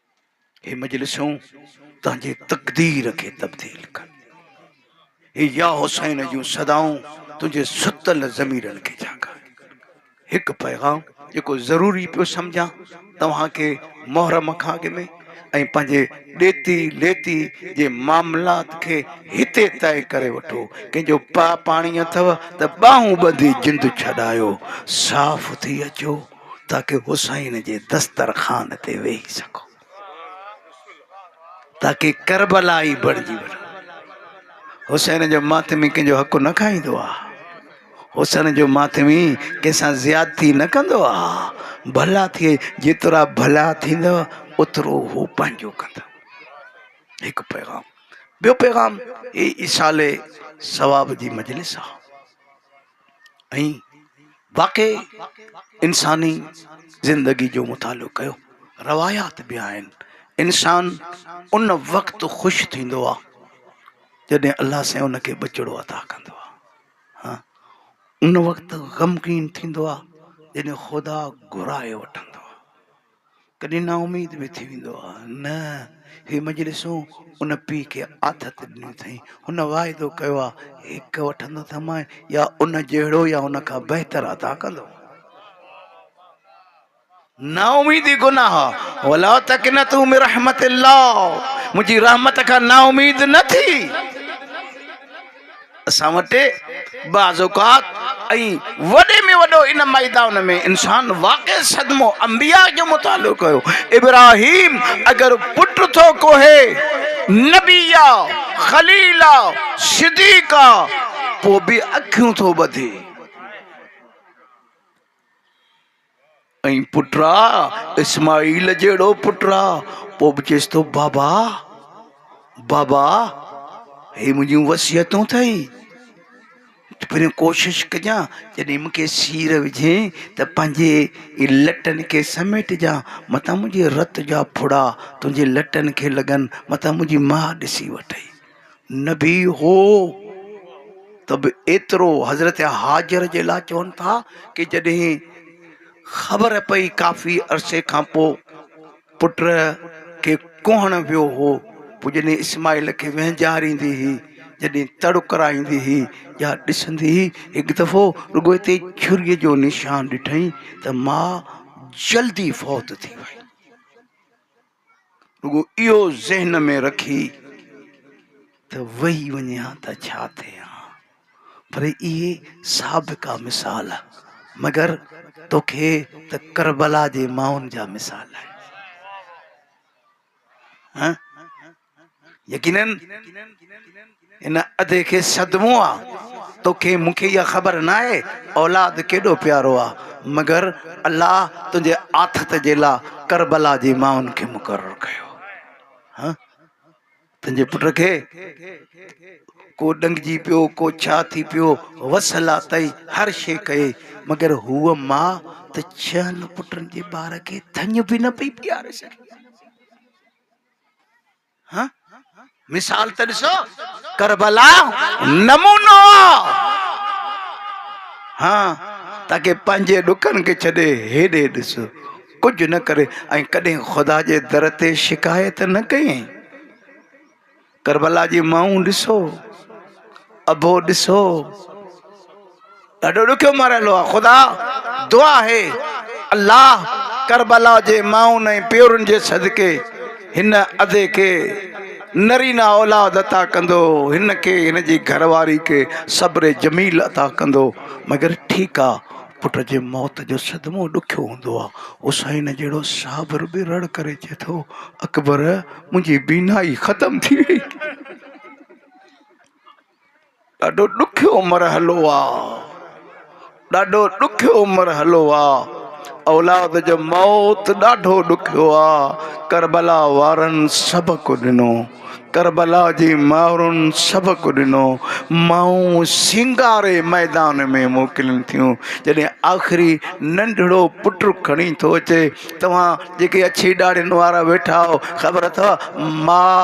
هي مجلسون تنهنجي تقدير کي تبديل ڪن هي يا حسين جون صدائون تنهنجي ستل ضميرن کي جاڳائن هڪ پيغام جيڪو ضروري پيو سمجھان توهان کي محرم کان اڳ ۾ ۽ پنهنجي ڏيتي ليتي جي معاملات کي هتي طئي ڪري وٺو ڪنهن جو پا پاڻي اٿو ته ٻانهون ٻڌي جند ڇڏايو صاف ٿي اچو تاڪه حسين جي دسترخوان تي ويهي سگهو تاڪه ڪربلائي بڻجي وڃو حسين جو ماتمي ڪنهن جو حق نه کائيندو آ حسن جو ماتمي کيسان زيادتي نه ڪندو آ ڀلا ٿئي جيترا ڀلا ٿيندا اترو هو پنهنجو ڪندا هڪ پيغام ٻيو پيغام هي ايصال ثواب جي مجلس آ ۽ واقعي انساني زندگي جو مطالعو ڪيو روايات به آهن انسان ان وقت خوش ٿيندو آ جڏهن الله سائين ان کي ٻچڙو عطا ڪندو آ ها ان وقت غمگين ٿيندو آ جڏهن خدا گهرائي وٺندو آ ڪڏهن نااميد به ٿي ويندو آ. نه هي مجلسون ان پيء کي آٿت ڏنيون اٿئين. هن واعدو ڪيو آ، هڪ وٺندو ته مئن يا ان جهڙو يا ان کان بهتر عطا ڪندو. نااميدي گناهه آ. ولا تقنطوا من رحمت الله منهنجي رحمت کان نااميد نه ٿي. اسان وٽ بعض اوقات ۽ وڏي ۾ وڏو ان ميدان ۾ انسان واقع صدمو انبياء جو مطالعو ڪيو ابراهيم اگر پٽ ٿو ڪوهي نبي آ خليل آ صديق آ پو به اکيون ٿو ٻڌي ۽ پٽ آ اسماعيل جهڙو پٽ آ پوء به چيس ٿو بابا بابا هي منهنجون وصيتون اٿئي پھريون ڪوشش ڪجان جڏهن مونکي سير وجھين ته پنهنجي لٽن کي سميٽجان متان منهنجي رت جا ڦڙا تنهنجي لٽن کي لڳن متان منهنجي ماء ڏسي وٺئي نه به هو ته به ايترو حضرت هاجر جي لاء چون ٿا ڪي جڏهن خبر پئي ڪافي عرصي کان پو پٽ کي ڪهڻ ويو هو پو جڏهن اسماعيل کي وهنجاريندي هي جڏهن تڙ ڪرائيندي هي يا ڏسندي هي هڪ دفعو رڳو هتي چھري جو نشان ڏٺئين ته ماء جلدي فوت ٿي وئي رڳو اهو ذهن ۾ رکي ته ويهي وڃي ها ته ڇا ٿئي ها پر اهي سابقا مثال مگر توکي ته ڪربلا جي ماڻهن جا مثال آهن يقينن ان ادي کي صدمو آ توکي مون کي اها خبر ناهي اولاد ڪيڏو پيارو آ مگر الله تنهنجي آٿت جي لا ڪربلا جي ماين کي مقرر ڪيو ها تنهنجي پٽ کي ڪو ڏنگجي پيو ڪو ڇا ٿي پيو وسلا تئي هر شي ڪئي مگر هو ما ته ڇهن پٽن جي ٻار کي ٿڃ به نه پئي پياري سگهي مثال ته ڏسو ڪربلا نمونو ها تاڪي پنهنجي ڏکن کي ڇڏي هيڏي ڏس ڪجهه نه ڪري ۽ ڪڏهن خدا جي در تي شڪايت نه ڪيائين ڪربلا جي مائون ڏسو ابو ڏسو ڏاڍو ڏکيو مرحلو آ خدا دعا آهي الله ڪربلا جي مائن ۽ پيئرن جي صدقي هن ادي کي نرينا اولاد عطا ڪندو هن کي هن جي گهر واري کي صبر جميل عطا ڪندو مگر ٺيڪ آ پٽ جي موت جو صدمو ڏکيو هوندو آ حسين جهڙو صابر به رڙ ڪري چئي ٿو اڪبر منهنجي بينائي ختم ٿي وئي ڏاڍو ڏکيو مرحلو آ ڏاڍو ڏکيو مرحلو آ اولاد جو موت ڏاڍو ڏکيو آ ڪربلا وارن سبق ڏنو ڪربلا جي مائرن سبق ڏنو مائون سينگاري ميدان ۾ موڪلين ٿيون جڏهن آخري ننڍڙو پٽ کڻي ٿو اچي توهان جيڪي اڇي ڏاڙهين وارا ويٺا آهو خبر اٿو ماء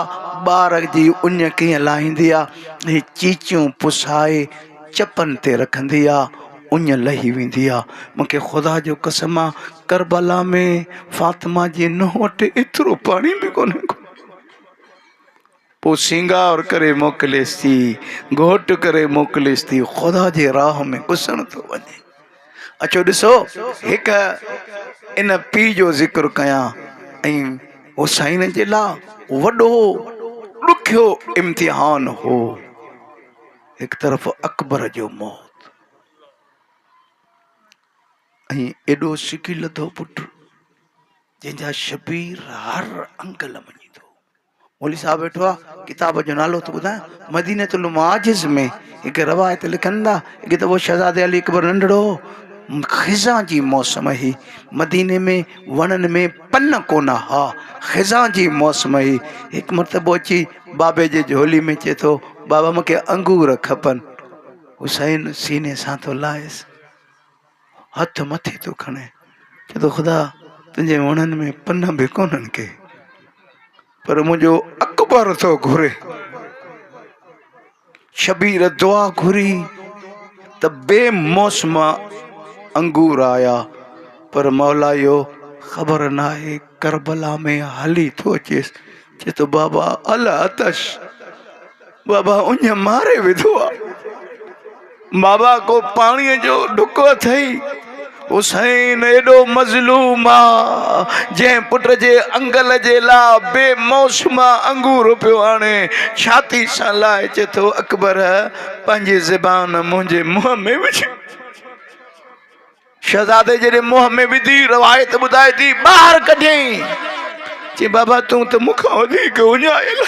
ٻار جي اڃ ڪيئن لاهيندي آهي هي چيچيون پسائي چپن تي رکندي آهي اڃ لهي ويندي آهي مون کي خدا جو قسم آهي ڪربلا ۾ فاطمه جي نونهن وٽ ايترو پاڻي به ڪونهي پوء سينگار ڪري موڪليس ٿي، گهوٽ ڪري موڪليس ٿي، خدا جي راهه ۾ گسڻ ٿو وڃي. اچو ڏسو هڪ ان پيء جو ذڪر ڪيان ۽ حسين جي لاء وڏو ڏکيو امتحان هو. هڪ طرف اڪبر جو موت ۽ ايڏو سڪي لڌو پٽ جنهن جا شبير هر انگل مڃي ٿو. مولوي صاحب ويٺو آ ڪتاب جو نالو ٿو ٻڌايان مدينة المعاجز ۾ هڪ روايت لکن ٿا اڳي ته هو شهزادي علي اڪبر ننڍڙو هو خزان جي موسم هي مديني ۾ وڻن ۾ پن ڪونه ها خزان جي موسم هي هڪ مرتبو اچي بابي جي جهولي ۾ چي ٿو بابا مونکي انگور کپن حسين سيني سان ٿو لاهيس هٿ مٿي ٿو کڻي چئي ٿو خدا تنهنجي وڻن ۾ پنه به ڪونهن ڪي پر منهنجو اڪبر ٿو گهري شبير دعا گهري ته بي موسم انگور آيا پر مولا اهو خبر ناهي ڪربلا ۾ هلي ٿو اچيس چئي ٿو بابا العطش بابا اڃ ماري وڌو آ. بابا ڪو پاڻي جو ڍڪ اٿئي؟ حسين ايڏو مظلوم آ جنهن پٽ جي انگل جي لا بي موسما انگور پيو آڻي ڇاتي سان لائي چي ٿو اڪبر پنهنجي زبان منهنجي منهن ۾ وجهه. شهزادي جڏهن منهن ۾ وڌي روايت ٻڌائي ٿي ٻاهر ڪڍيائين چي بابا تون ته مون کان وڌيڪ اڃايل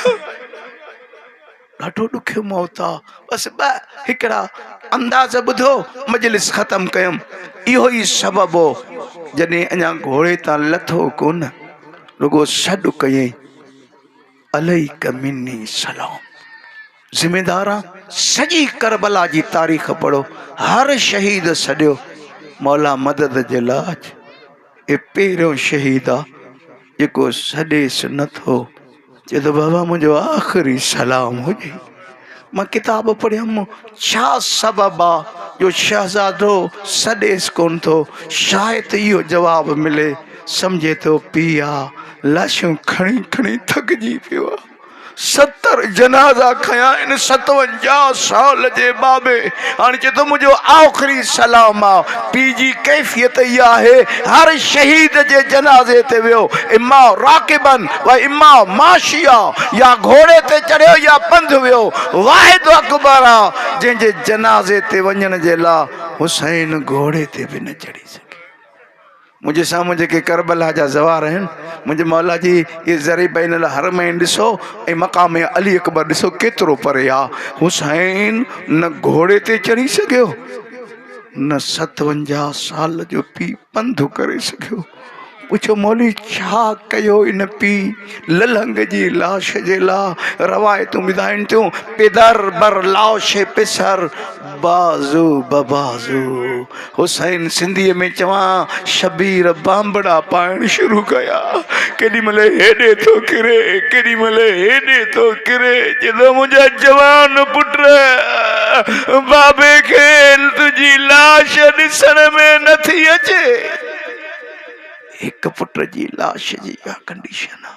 ڏاڍو ڏکيو موت آ بس ٻه هڪڙا انداز ٻڌو مجلس ختم ڪيم اهو ئي سبب هو جڏهن اڃا گهوڙي تان لٿو ڪون رڳو سڏ ڪيائين عليڪ مني سلام ذميداران سڄي ڪربلا جي تاريخ پڙهو هر شهيد سڏيو مولا مدد جي لاج اي پهريون شهيد آ جيڪو سڏيس نٿو چي ته بابا منهنجو آخري سلام هجي مان ڪتاب پڙهيم، ڇا سبب آ جو شهزادو سڏيس ڪونه ٿو، شايد اهو جواب ملي، سمجهي ٿو پيء آ، لاشون کڻي کڻي ٿڪجي پيو آ، ستر جنازا کنيا آهن، ستونجاهه سال جي ٻاٻي، هاڻ چئي ٿو منهنجو آخري سلام آ. پي جي ڪيفيت اها آهي هر شهيد جي جنازي تي ويو اما راڪبا و اما ماشيا يا گهوڙي تي چڙهيو يا پنڌ ويو واحد و اڪبر آ جنهن جي جنازي تي وڃڻ جي لا حسين گهوڙي تي به نه چڙهي سگهيو منهنجي سامهون جيڪي ڪربلا جا زوار آهن منهنجي مولا جي اهي زرعي بين الحرمين ڏسو ۽ مقام علي اڪبر ڏسو ڪيترو پري آ حسين نه گهوڙي تي چڙهي سگهيو نه ستونجاهه سال جو پي پنڌ ڪري سگهيو پڇو مولوي ڇا ڪيو ان پي للهنگ جي لاش جي لا روايتون ٻڌائين ٿيون پدر بر لاش پسر بازو به بازو حسين سنڌي ۾ چوان شبير بانبڙا پائڻ شروع ڪيا ڪيڏي مھل ھيڏي ٿو ڪري ڪيڏي مھل ھيڏي ٿو ڪري جڏھن منھنجا جوان پٽ بابي کي تنھنجي لاش ڏسڻ ۾ نٿي اچي ھڪ پٽ جي لاش جي اھا ڪنڊيشن آ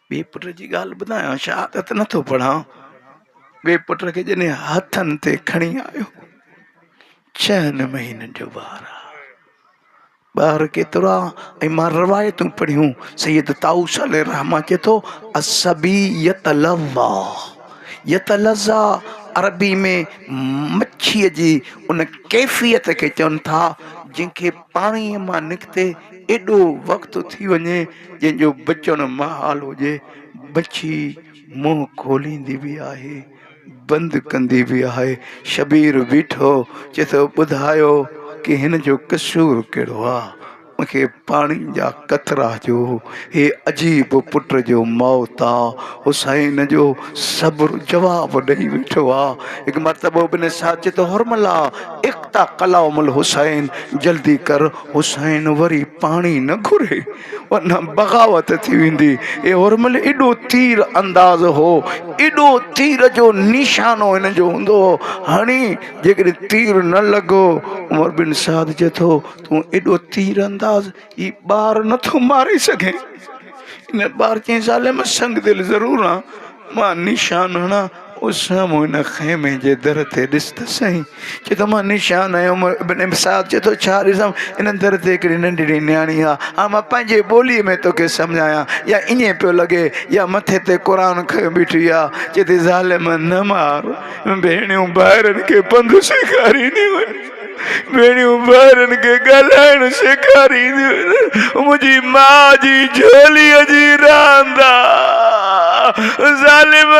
ٻئي پٽ جي ڳالهه ٻڌايان، شهادت نٿو پڙهان، ٻئي پٽ کي جڏهن هٿن تي کڻي آيو، ڇهن مهينن جو ٻار آ، ٻار ڪيترا ۽ مان روايتون پڙهيون، سيد طائوس عليه الرحمة چئي ٿو، الصبي يتلظا يتلظا عربي ۾ مڇيء جي ان ڪيفيت کي چون ٿا جنهن کي پاڻيء مان نڪتي ايڏو وقت ٿي وڃي، جنهن جو بچڻ محال هجي. بڇي منهن کوليندي به آهي، بند ڪندي به آهي. شبير بيٺو، چئي ٿو، ٻڌايو ڪي هن جو قصور ڪهڙو آ؟ مون کي پاڻي جا قطرا جو هي عجيب پٽ جو موت آ. حسين جو صبر جواب ڏئي ويٺو آ. هڪ مرتبو ابن سعد چئي ٿو، حرملا! اقطع ڪلام الحسين جلدي ڪر حسين وري پاڻي نه گهري ورنه بغاوت ٿي ويندي اي هورمل ايڏو تير انداز هو ايڏو تير جو نيشانو هن جو هوندو هو هڻي جيڪڏهن تير نه لڳو عمر بن سعد چي ٿو تون ايڏو تير انداز هي ٻار نٿو ماري سگهين. ان ٻار چيائين زالي مان سنگ دل ضرور آهيان مان نيشان هڻان او سامهون ان خيمي جي در تي ڏس ته سهين چي ٿو مان نيشان هنيم ابن سعد چي ٿو ڇا ڏسان ان در تي هڪڙي ننڍڙي نياڻي آهي هاڻ مان پنهنجي ٻولي ۾ توکي سمجهايان يا ائين پيو لڳي يا مٿي تي قرآن کنيو بيٺي آهي چي ٿي زالي مان نه مار ڀيڻيون ڀائرن کي پنڌ سيکارينديون آهن. ٻيڙيون ٻارن کي ڳالهائڻ سيکارينديون آهن، منهنجي ماء جي جهوليء جي راند آ، ظالم،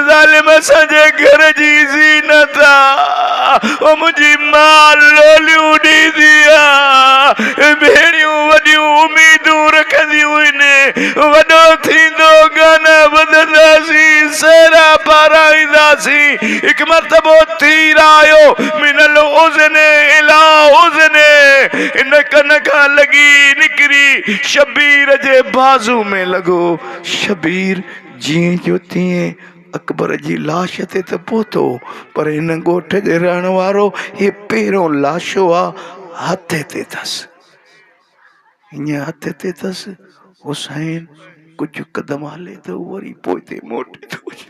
ظالم اسان جي گهر جي زينت آ، او منهنجي ماء لوليون ڏيندي آ، ٻيڙيون وڏيون اميدون رکنديون آهن، وڏو ٿيندو گانا ٻڌنداسين، سهرا پارائينداسين. هڪ مرتبو تير آيو من الاذن اليٰ اذن هن ڪن کان لڳي نڪري شبير جي بازو ۾ لڳو. شبير جيئن جو تيئن اڪبر جي لاش تي ته پهتو پر هن ڳوٺ جي رهڻ وارو هي پهريون لاشو آ هٿ هتي ٿس. هينئن هٿ هتي ٿس. حسين ڪجهه قدم هلي ٿو وري پوئتي موٽي ٿو اچي.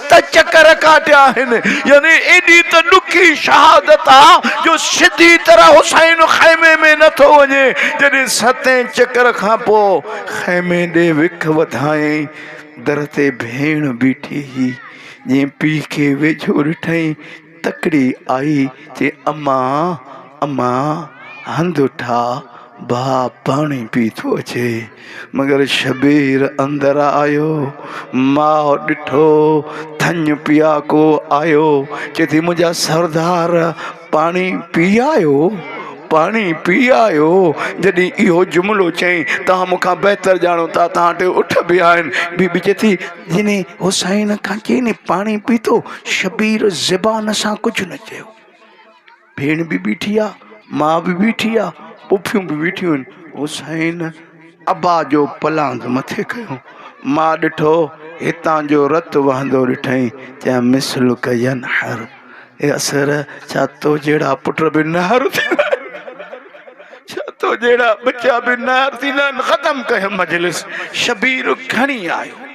ته چڪر ڪاٽيا آهن، يعني ايڏي ته ڏکي شهادت آ جو سڌي طرح حسين خيمي ۾ نه ٿو وڃي، جڏهن ستين چڪر کان پوء خيمي ڏي وک وڌائين، در تي ڀيڻ بيٺي هئي، جنهن پيء کي ويجهو ڏٺائين، تڪڙي آئي چي اما اما هنڌ اٺا ڀاء پاڻي پي ٿو اچي مگر شبير اندر آيو ماء ڏٺو ٿڃ پياڪو آيو چي ٿي منهنجا سردار پاڻي پي آيو پاڻي پي آيو جڏهن اهو جملو چئين توهان مون کان بهتر ڄاڻو ٿا توهان ٽي اٺ به آهن بيبي چي ٿي جنھن حسين کان چين پاڻي پيتو، شبير زبان سان ڪجھ نه چيو. ڀيڻ به بيٺي آ، ماء به بيٺي آ، پڦيون به بيٺيون آھن. حسين ابا جو پلاند مٿي ڪيو. ماء ڏٺو، ھتان جو رت وھندو ڏٺئي، چيائين مثلک ينحر. اي اسير ڇا تو جهڙا پٽ به نهر ٿيندا آهن ڇا تو جهڙا ٻچا به نهر ٿيندا آهن ختم ڪيو مجلس شبير کڻي آيو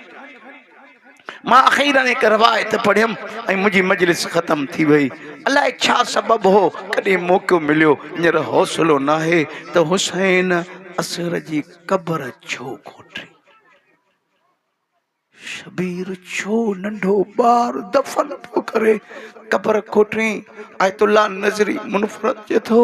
مان اخير هڪ روايت پڙهيم ۽ منهنجي مجلس ختم ٿي وئي الاء ڇا سبب هو ڪڏهن موقعو مليو هينئر حوصلو ناهي ته حسين اصغر جي قبر ڇو کوٽي شبير ڇو ننڍو ٻار دفن ٿو ڪري قبر کوٽين آيت الله نظري منفرد چئي ٿو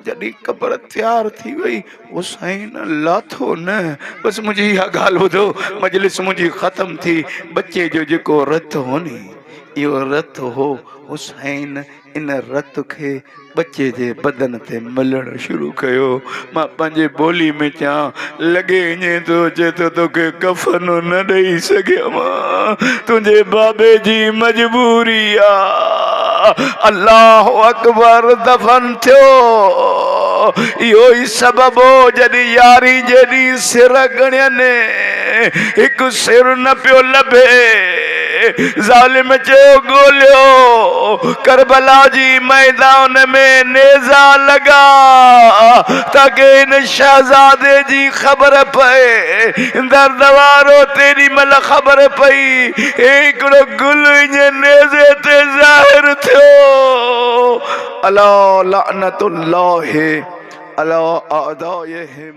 جڏهن قبر تيار ٿي وئي حسين لاٿو نه بس منهنجي اها ڳالهه ٻڌو مجلس منهنجي ختم ٿي ٻچي جو جيڪو رت هوني اهو رت هو حسين ان رت کي ٻچي جي بدن تي ملڻ شروع ڪيو. مان پنهنجي ٻولي ۾ چيان لڳي اڃي ٿو اچي ته توکي ڪفن نه ڏئي سگهيم. تنهنجي بابي جي مجبوري آ. الله اڪبر دفن ٿيو. اهو ئي سبب هو جڏهن ياري جي ڏينهن سر ڳڻين هڪ سر نه پيو لڀي. ظالم چيو ڳوليو ڪربلا جي ميدان ۾ نيزا لڳا تاڪه هن شهزادي جي خبر پئي درد وارو تيڏي مهل خبر پئي هي هڪڙو گل انهي نيزي تي ظاهر ٿيو الا لعنت الله علي اعدائهم